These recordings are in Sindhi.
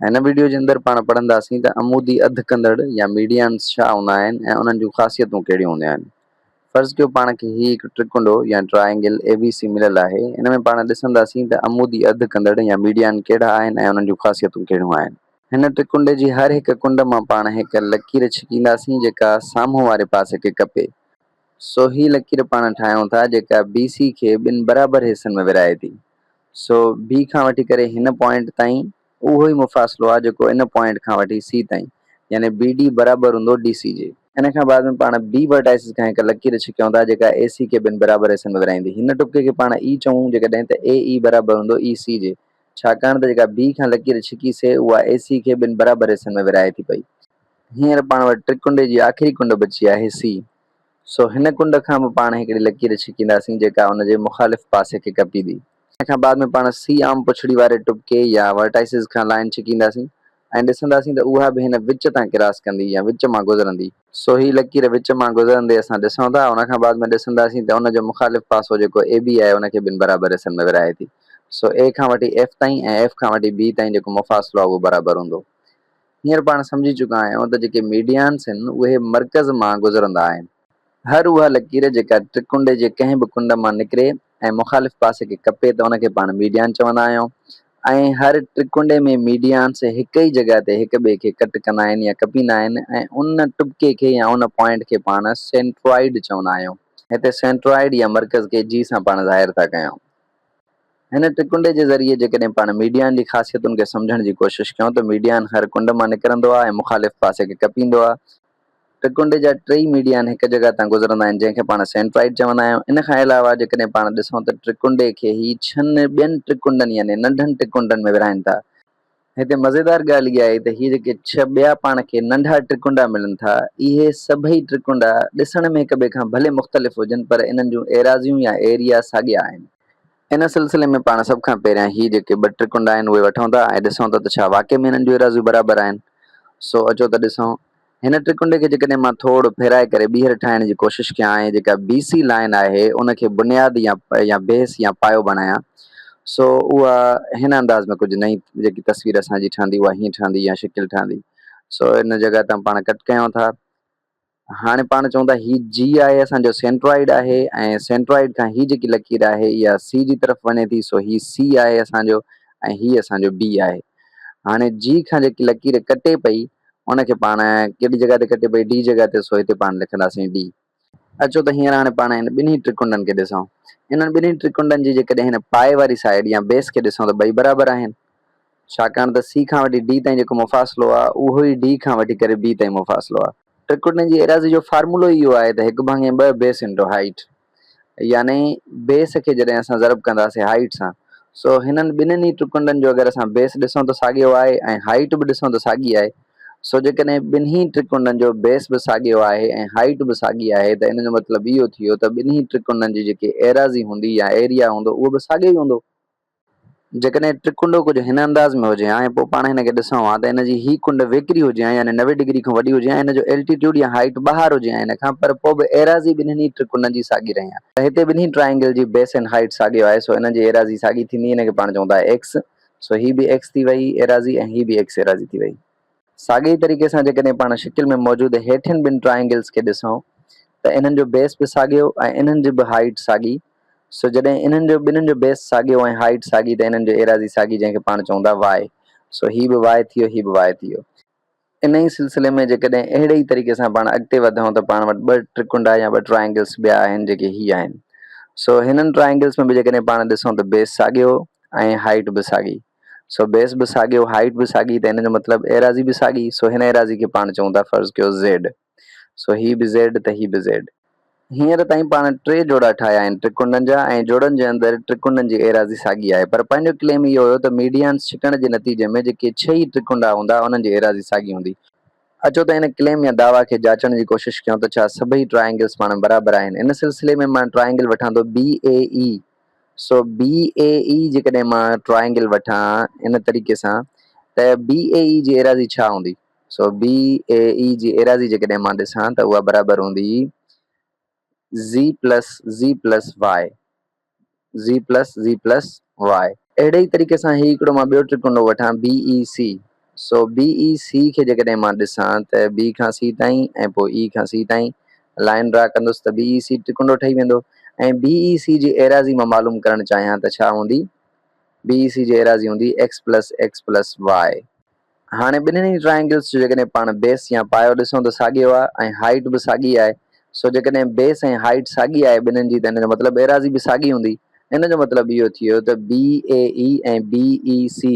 هن وڊيو جي اندر پاڻ پڙهنداسين ته عمودي اڌ ڪندڙ يا ميڊيانز ڇا هوندا آهن ۽ انهن جون خاصيتون ڪهڙيون هونديون آهن. فرض ڪيو پاڻ کي هي هڪ ٽرڪنڊو يا ٽرائينگل ABC مليل آهي، ان ۾ پاڻ ڏسنداسين ته عمودي اڌ ڪندڙ يا ميڊيان ڪهڙا آهن ۽ انهن جون خاصيتون ڪهڙيون آهن. هن ٽرڪنڊي جي هر هڪ ڪنڊ مان پاڻ هڪ لڪير ڇڪينداسين جيڪا سامهون واري پاسي کي ڪپي. سو هي لڪير پاڻ ٺاهيون ٿا جيڪا BC کي ٻن برابر حصن ۾ ورهائي ٿي. سو بي کان وٺي ڪري هن پوائنٽ تائين اهو ئي مفاصلو آهي جيڪو ان پوائنٽ کان وٺي سي تائين يعني بي ڊي برابر هوندو ڊي سي جي. ان کان بعد ۾ پاڻ بي ورٽائسز کان هڪ لڪير ڇڪيون ٿا جيڪا اي سي کي ٻن برابر حصن ۾ ورهائيندي. هن ٽپڪي کي پاڻ اي چئون جيڪڏهن ته اي اي برابر هوندو اي سي جي ڇاڪاڻ ته جيڪا بي کان لڪير ڇڪي سي اها اي سي کي ٻن برابر حصن ۾ ورهائي ٿي پئي. هينئر پاڻ وٽ ٽرڪنڊي جي آخري ڪنڊ بچي آهي سي سو هن ڪنڊ کان به پاڻ هڪڙي لڪير ڇڪينداسين جيڪا ان جي مخالف پاسي کي ڪپيندي. ان کان بعد ۾ پاڻ سي عام پڇڙي واري ٽٻڪي يا ورٽائسز کان لائين ڇڪينداسين ۽ ڏسنداسين ته اها به هن وچ تان ڪراس ڪندي يا وچ مان گذرندي. سو هي لڪير وچ مان گذرندي اسان ڏسون ٿا. ان کان بعد ۾ ڏسنداسين ته ان جو مخالف پاسو جيڪو اي بي آهي ان کي ٻن برابر حصن ۾ ورهائي ٿي. سو اي کان وٺي ايف تائين ۽ ايف کان وٺي بي تائين جيڪو مفاصلو آهي اهو برابر هوندو. هينئر پاڻ سمجهي چڪا آهيون ته جيڪي ميڊيانس هن اهي مرڪز مان گذرندا آهن. هر اها لڪير جيڪا ٽرڪنڊي جي ڪنهن به ڪنڊ مان نڪري ۽ مخالف پاسي کي ڪپي ته ان کي پاڻ ميڊيان چوندا آهيون ۽ هر ٽرڪنڊي ۾ ميڊيانس هڪ ئي جڳهه تي هڪ ٻئي کي ڪٽ ڪندا آهن يا ڪپيندا آهن ۽ ان ٽٻڪي کي يا ان پوائنٽ کي پاڻ سينٽرائيڊ چوندا آهيون. هتي سينٽرائيڊ يا مرڪز کي جي سان پاڻ ظاهر ٿا ڪيون. هن ٽڪنڊي جي ذريعي جيڪڏهن پاڻ ميڊيائن جي خاصيتن کي سمجهڻ جي ڪوشش ڪيون ته ميڊيائن هر ڪنڊ مان نڪرندو آهي ۽ مخالف پاسي کي ڪپيندو آهي. ٽڪنڊي جا ٽيئي ميڊيائن هڪ جڳهه تان گذرندا آهن جنهن کي پاڻ سينٽرائيڊ چوندا آهيون. ان کان علاوه جيڪڏهن پاڻ ڏسون ته ٽڪنڊي کي هي ڇن ٻين ٽڪنڊن يعني ننڍن ٽڪنڊن ۾ ورهائين ٿا. هتي مزيدار ڳالهه اها آهي ته هي جيڪي ڇهه ٻيا پاڻ کي ننڍا ٽرڪونڊا ملن ٿا، اهي سڀئي ٽرڪونڊا ڏسڻ ۾ هڪٻئي کان ڀلي مختلف هجن پر انهن جون ايراضيون يا ايريا ساڳيا آهن. ان سلسلي ۾ پاڻ سڀ کان پهريان هي جيڪي ٻه ٽرڪونڊا آهن اهي وٺون ٿا ۽ ڏسون ٿا ته ڇا واقعي ۾ انهن جون ايراضيون برابر آهن. سو اچو ته ڏسون. هن ٽرڪنڊي کي جيڪڏهن مان ٿوڙ ڦيرائي ڪري ٻيهر ٺاهڻ جي ڪوشش ڪيان ۽ جيڪا بي سي لائين آهي ان کي بنياد يا بيس يا پايو بڻايان سو اها هن انداز ۾ ڪجهه نئين جيڪي تصوير اسان جي ٺهندي اها هيئن ٺهندي يا شڪل ٺهندي سو ان جڳهه تان پاڻ ڪٽ ڪيون ٿا. هاڻي پاڻ چئون ٿا هي جي آهي اسان جو سينٽرائيڊ آهي ۽ سينٽرائيڊ کان هي جيڪي لڪير آهي اها سي جي طرف وڃي ٿي سو هي سي آهي اسان جو ۽ هي اسان جو بي آهي هاڻي جي کان جيڪي لڪير ڪٽي پئي ان کي پاڻ ڪهڙي جڳهه تي ڪٽي پئي ڊي جڳهه تي سو هتي پاڻ لکنداسين ڊي. اچو ته هينئر هاڻي پاڻ هن ٻنهي ٽرڪنڊن کي ڏسون. انهن ٻنهي ٽرڪنڊن جي جيڪڏهن هن پائي واري سائيڊ يا بيس کي ڏسون ته ٻئي برابر آهن. ڇاڪاڻ ته سي کان وٺي ڊي تائين جيڪو مفاصلو آهي اهو ئي ڊي کان وٺي ڪري بي تائين مفاصلو آهي. ٽرڪنڊن جي ايراضي جو فارمولو ئي اهو آهي ته هڪ ڀاڱي ٻه بيس انٽو هائيٽ. يعني بيس کي جڏهن اسان ضرب ڪنداسين هائيٽ سان سو هنن ٻنهن ئي ٽرڪنڊن جو اگر اسان بيس ڏسون ته ساڳيو آهي ۽ هائيٽ به ڏسون ته ساڳي آهي سو جيڪڏهن ٻنهي ٽرڪنڊن جو بيس به ساڳيو آهي ۽ هائيٽ به ساڳي آهي ته ان جو مطلب اهو ٿيو ته ٻنهي ٽرڪنڊن جي جيڪي ايراضي هوندي يا ايريا هوندو اهو به ساڳيو ئي هوندو. جيڪڏهن ٽرڪنڊو ڪجهه هن انداز ۾ هجي ها ۽ پوء پاڻ هن کي ڏسون ها ته هن جي هي ڪنڊ ويڪري هجي ها يعني نوي ڊگري کان وڏي هجي ها ۽ هن جو الٽيٽيوڊ يا هائيٽ ٻاهر هجي ها هن کان پر پوء به ايراضي ٻنهن ئي ٽرڪنڊن جي ساڳي رهي ها. ته هتي ٻنهي ٽرائينگل جي بيس ۽ هائيٽ ساڳيو آهي سو انهن جي ايراضي ساڳي ٿيندي هن کي پاڻ چون ٿا ايڪس سو هي به ايڪس ٿي ويئي ايراضي ۽ هي به ايڪس ايراضي ٿي ويئي. ساڳئي طريقي سان جيڪڏهن پاڻ شڪل ۾ موجود هيٺين ٻن ٽرائينگلز کي ڏسون ته انهن جو بيس به ساڳيو ۽ انهن جي به هائيٽ ساڳي سو جڏهن انهن جو ٻنهن جو بيس ساڳيو ۽ هائيٽ ساڳي ته انهن جو ايراضي ساڳي جنهن کي پاڻ چئون ٿا واء سو هي به واء ٿيو هي به واء ٿيو. انهي ئي سلسلي ۾ جيڪڏهن اهڙي ئي طريقي سان پاڻ اڳتي وڌون ته پاڻ وٽ ٻه ٽرڪنڊا يا ٻه ٽرائينگلز ٻيا آهن جيڪي هي آهن سو هنن ٽرائينگلز ۾ به جيڪڏهن پاڻ ڏسون ته بيس ساڳيو ۽ هائيٽ به ساڳي سو بيس به ساڳيو، هائيٽ به ساڳي ته ان جو مطلب ايراضي به ساڳي، سو هن ايراضي کي پاڻ چئون ٿا فرض ڪيو زيڊ، سو هي به زيڊ ته هي به زيڊ. هينئر تائين پاڻ ٽي جوڙا ٺاهيا آهن ٽرڪنڊن جا ۽ جوڙن جي اندر ٽرڪنڊن جي ايراضي ساڳي آهي پر پنهنجو ڪليم اهو هيو ته ميڊيانس ڇڪڻ جي نتيجي ۾ جيڪي ڇهه ئي ٽرڪنڊا هوندا انهن جي ايراضي ساڳي هوندي، اچو ته ان ڪليم يا دعويٰ کي جاچڻ جي ڪوشش ڪيون ته ڇا سڀئي ٽرائينگلز پاڻ برابر آهن، ان سلسلي ۾ مان ٽرائينگل وٺان ٿو BAE. سو بي اي اي جيڪڏهن مان ٽرائينگل وٺان ان طريقي سان ته بي اي اي جي ايراضي ڇا هوندي؟ سو بي اي اي جي ايراضي جيڪڏهن مان ڏسان ته اها برابر هوندي Z plus Z plus Y Z plus Z plus Y. اهڙي ئي طريقي سان هي هڪڙو مان ٻيو ٽرڪنڊو وٺان بي A C so B A سي کي جيڪڏهن مان ڏسان ته بي کان سي تائين ۽ پوء اي کان سي تائين لائين ڊرا ڪندس ته بي اي سي ٽڪنڊو ٺهي ويندو ۽ بي اي سي جي ايراضي مان معلوم ڪرڻ چاهيان ته ڇا هوندي؟ بي اي سي جي ايراضي هوندي X plus X plus Y. هاڻي ٻنهن ئي ٽرائينگلز جو جيڪڏهن پاڻ بيس يا پايو ڏسون ته ساڳيو آهي ۽ هائيٽ به ساڳي آهي سو جيڪڏهن بيس ۽ هائيٽ ساڳي آهي ٻنهن جي ته ان جو مطلب ايراضي به ساڳي هوندي ان جو مطلب اهو ٿيو ته B A A ۽ B A C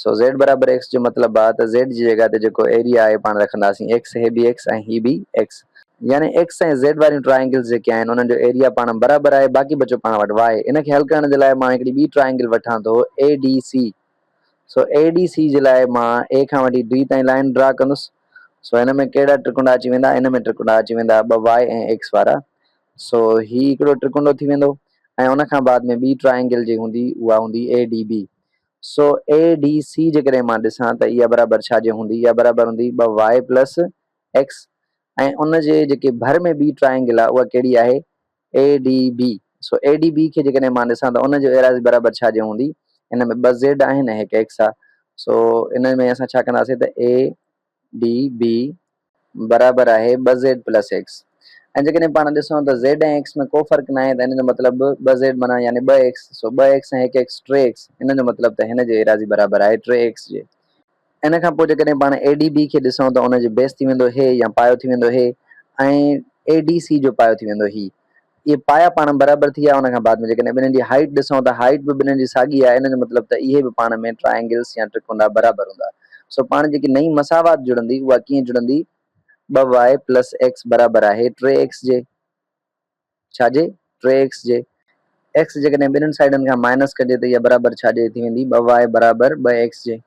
سو زيڊ برابر ايڪس جو مطلب آ ته زيڊ جي جڳهه تي جيڪو ايريا آهي پاڻ رکنداسين ايڪس هي به ايڪس ۽ هي به ايڪس يعني ايڪس ۽ زيڊ واريون ٽرائينگلز جيڪي آهن انهن جو ايريا پاڻ برابر آهي باقي بچيو پاڻ وٽ واء ان کي حل ڪرڻ جي لاء مان هڪڙي ٻي ٽرائينگل وٺان ٿو اي ڊي سي سو اي ڊي سي جي لاء مان اي کان وٺي بي تائين لائين ڊرا ڪندس سو هن ۾ ڪهڙا ٽرڪنڊا اچي ويندا ان ۾ ٽرڪنڊا اچي ويندا ٻه واء ۽ ايڪس وارا سو هي هڪڙو ٽرڪنڊو ٿي ويندو ۽ ان کان بعد ۾ ٻي ٽرائينگل جي هوندي اها هوندي اي ڊي بي سو اي ڊي سي جيڪڏهن مان ڏسان ته اها برابر ڇا جي هوندي؟ اها برابر هوندي ٻه وائي پلس ايڪس ۽ ان جي جيڪي ڀر ۾ ٻي ٽرائينگل آهي اها ڪهڙي آهي؟ A D B. سو اي ڊي بي کي جيڪڏهن مان ڏسان ته ان جي ايراضي برابر ڇا جي هوندي؟ ان ۾ ٻه زيڊ آهن ۽ هڪ ايڪس آهي. سو ان ۾ اسان ڇا ڪنداسين ته اي ڊي، بي، برابر آهي ٻه زيڊ پلس ايڪس ۽ جيڪڏهن پاڻ ڏسون ته زيڊ ۽ ايڪس ۾ ڪو فرق ناهي ته هن جو مطلب ٻه زيڊ معنيٰ يعني ٻه ايڪس سو ٻه ايڪس ۽ هڪ ايڪس ٽي ايڪس ان جو مطلب ته هن جي ايراضي برابر آهي ٽي ايڪس جي ان کان پوء جيڪڏهن پاڻ اي ڊي بي کي ڏسون ته ان جي بيس ٿي ويندو هي يا پايو ٿي ويندو هي ۽ اي ڊي سي جو پايو ٿي ويندو هي. اهي پايا پاڻ ۾ برابر ٿي ويا ان کان بعد ۾ جيڪڏهن ٻنهن جي هائيٽ ڏسون ته هائيٽ به ٻنهن جي ساڳي آهي ان جو مطلب ته اهي به پاڻ ۾ ٽرائينگلس يا ٽرڪونڊا برابر هوندا سو پاڻ جيڪي نئين مساوات جڙندي اها ڪيئن جڙندي ٻه واء پلس ايڪس برابر آهي ٽي ايڪس جي ڇا جي ٽي ايڪس جي ايڪس جيڪڏهن ٻنهن سائيڊن کان مائنس ڪجي ته اها برابر ڇا جي ٿي ويندي ٻه واء برابر ٻه ايڪس جي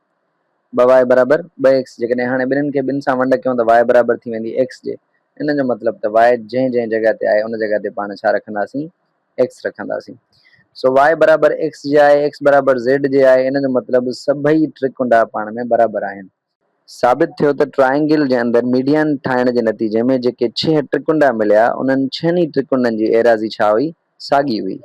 ٻه واء برابر ٻه ايڪس جي ڪڏهن هاڻي ٻنهن کي ٻن سان ونڊ ڪيون ته واء برابر ٿي ويندي ايڪس جي ان جو مطلب ته واء جنهن جنهن جڳهه تي آهي ان جڳهه تي پاڻ ڇا رکنداسين ايڪس رکنداسين سو واء برابر ايڪس جي آهي ايڪس برابر زيڊ جي آهي ان جو مطلب سڀئي ٽي ڪنڊا پاڻ ۾ برابر آهن. ثابت ٿيو ته ٽرائينگل جي اندر ميڊيان ٺاهڻ جي نتيجي ۾ جيڪي ڇهه ٽرڪنڊا مليا انهن ڇهن ئي ٽرڪنڊن جي ايراضي ڇا هئي ساڳي هئي.